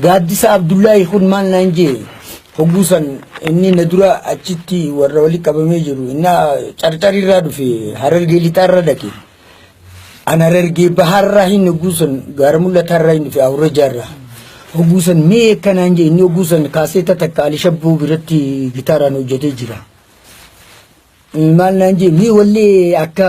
Gaaddisa Abdullaahi kun maal naan jee hogguu san inni na dura achitti warra wali qabamee jiru innaa carcarirraa dhufe harargee lixaarra dhaqe an harargee bahaarraa hin hogguu san gaara mul'ataarraa hin dhufe awurrajaarraa hogguu san mee akka naan jee inni hogguu san kaaseeta takka alishabbuu biratti gitaaraan hojjetee jira maal naan jee mee wallee akka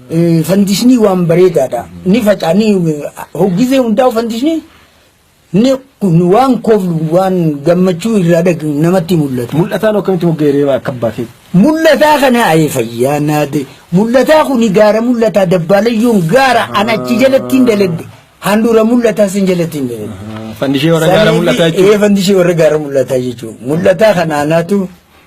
Fandishnii waan bareedaadha. Ni faca'a ni hoggizee hundaa'u fandishnii ni kun waan koflu waan gammachuu irraa dhag namatti mul'atu. Mul'ataan akkamitti mogga'e reebaa akka abbaa keeti? Mul'ataa kana ayee fayyaa naade. Mul'ataa kuni gaara mul'ataa dabbaalayyuun gaara an achi jalatti hin daladde. Handhuura mul'ataa sin jalatti hin daladde. Fandishee warra gaara mul'ataa jechuudha. Ee fandishee warra gaara mul'ataa jechuudha. Mul'ataa kana anaatu